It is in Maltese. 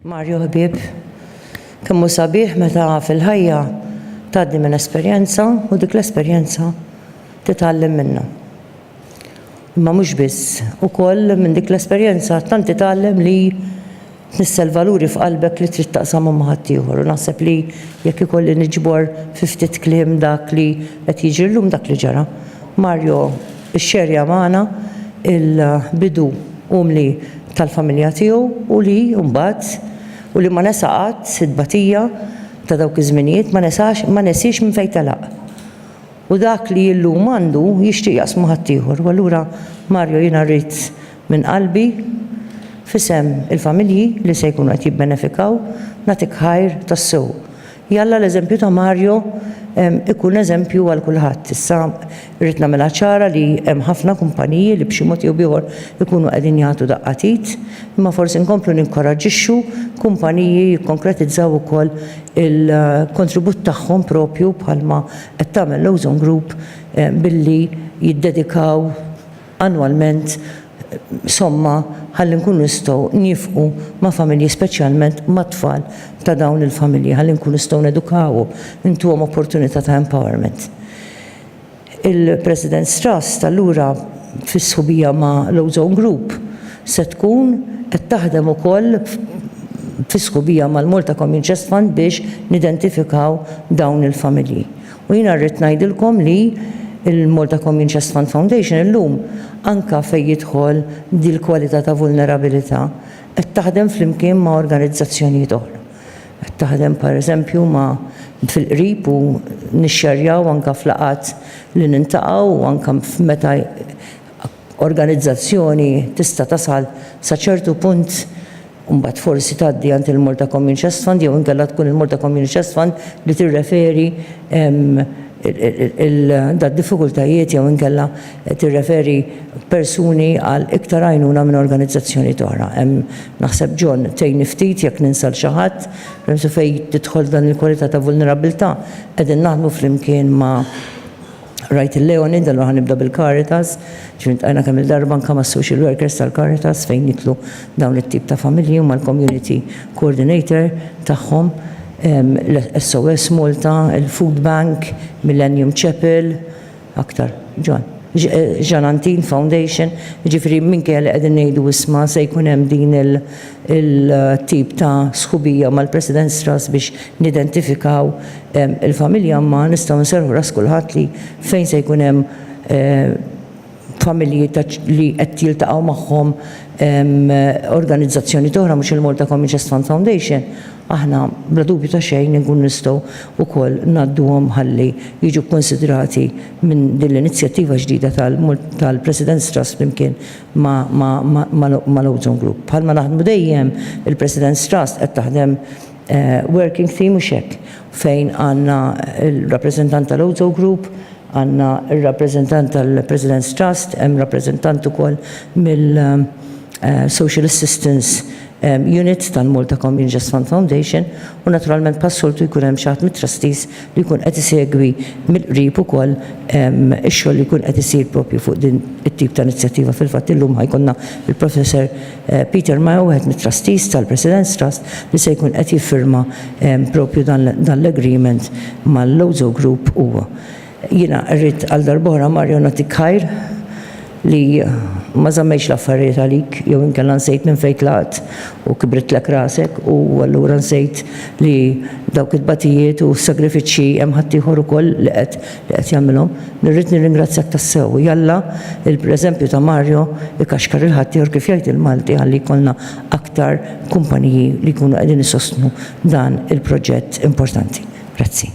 Mario ħbieb, kemm hu sabiħ meta fil-ħajja tgħaddi minn esperjenza u dik l-esperjenza titgħallem minnha. Imma mhux biss, ukoll minn dik l-esperjenza tant titgħallem li Tnissel valuri f'qalbek li trid taqsamhom ma' ħaddieħor u naħseb li jekk ikolli niġbor fi ftit kliem dak li qed jiġri llum dak li ġara. Mario ixxerja magħna l-bidu umli tal-familja tiegħu u li mbagħad u li ma nesa qatt it-tbatija ta' dawk iż-żminijiet ma nesax ma nesiex minn fejn telaq. U dak li llum għandu jixtieq jaqsmu ma' ħaddieħor u allura Mario jiena rrid Minn qalbi, f'isem il-familji li se jkunu qed jibbenefikaw, nagħtik ħajr tassew. Jalla l-eżempju ta' Mario ikun eżempju għal kulħadd. Issa rrid nagħmilha ċara li hemm ħafna kumpaniji li b'xi mod jew b'ieħor ikunu qegħdin jagħtu daqqa t'id, imma forsi nkomplu ninkoraġġixxu kumpaniji jikkonkretizzaw ukoll il-kontribut tagħhom proprju bħalma qed tagħmel l-Ozone Group billi jiddedikaw annwalment somma ħalli nkunu nistgħu niefqu ma' familji speċjalment mat-tfal ta' dawn il-familji ħalli nkunu nistgħu nedukawhom, intuhom opportunità ta' empowerment. Il-Presidents Trust allura fis-sħubija ma' l-Ozone Group se tkun qed taħdem ukoll fis-sħubija mal-Malta Commune Trust Fund biex nidentifikaw dawn il-familji. U jiena rrid ngħidilkom li l-Malta Commune Chest Fund Foundation illum, anke fejn jidħol dil-kwalità ta' vulnerabilità, qed taħdem flimkien ma' organizzazzjonijiet oħra. Qed taħdem pereżempju ma' fil-qrib u nixxerjaw anke f'laqgħat li niltaqgħu u anke f'meta organizzazzjoni tista' tasal sa ċertu punt u mbagħad forsi tgħaddi għand il-Malta Commune Chest Fund jew inkella tkun il-Malta Commune Chest Fund li tirreferi d-diffikultajiet jew inkella tirreferi persuni għal iktar għajnuna minn organizzazzjonijiet oħra. Hemm naħseb John tgħinni ftit jekk ninsa 'l xi ħadd, permezz fejn tidħol f'dan il-kwalità ta' vulnerabbiltà qegħdin naħdmu flimkien ma' Rajt il-leoni, dalgħa ħa nibda bil-Caritas, ġifieri ltqajna kemm il-darba anke mas-social workers tal-Caritas fejn niklu dawn it-tip ta' familji u mal-community coordinator tagħhom, SOS Malta, il-food bank, Millennium Chapel, aktar, John? Jean Antin Foundation, jiġifieri minkejja li qegħdin ngħidu isma' se jkun hemm din il- il-tip ta' sħubija mal-President Strass biex nidentifikaw il-familja imma nistgħu nserrħu ras kulħadd li fejn se jkun hemm familji li qed jiltaqgħu magħhom organizzazzjonijiet oħra mhux il-Malta Communities Fund Foundation aħna bla dubju ta' xejn inkunu nistgħu wkoll ngħadduhom ħalli jiġu kkunsidrati minn din l-inizjattiva ġdida tal-President Strass flimkien mal-Ozone Group. Bħalma naħdmu dejjem, il-President's Trust qed taħdem working theme mhux hekk, fejn għandna l-rappreżentant tal-Ozone Group, għandna r-rappreżentant tal-President's Trust, hemm rappreżentant ukoll mill-Social Assistance Unit tal-Malta Communities Fund Foundation u naturalment bħas-soltu jkun hemm xi ħadd mit-trustees li jkun qed isegwi mill-qrib ukoll ix-xogħol li jkun qed isir proprju fuq din it-tip ta' inizjattiva. Fil-fatt illum ħa jkollna l-Professor Peter Mayo wieħed mit-trustees tal-Presidents Trust li se jkun qed jiffirma proprju dan l-agreement mal-Lozo Group huwa. Jiena rrid għal darb'oħra Mario nagħtik ħajr li ma żammejtx l-affarijiet għalik jew inkella nsejt minn fejn tlaqt u kibritlek rasek u allura nsejt li dawk it-tbatijiet u s-sagrifiċċji hemm ħaddieħor ukoll li qed li qed jagħmilhom. Irrid nirringrazzjak tassew. Jalla l-preżempju ta' Mario ikaxkar il-ħaddieħor kif jgħid il-Malti ħalli jkollna aktar kumpaniji li jkunu qegħdin isostnu dan il-proġett importanti. Grazzi.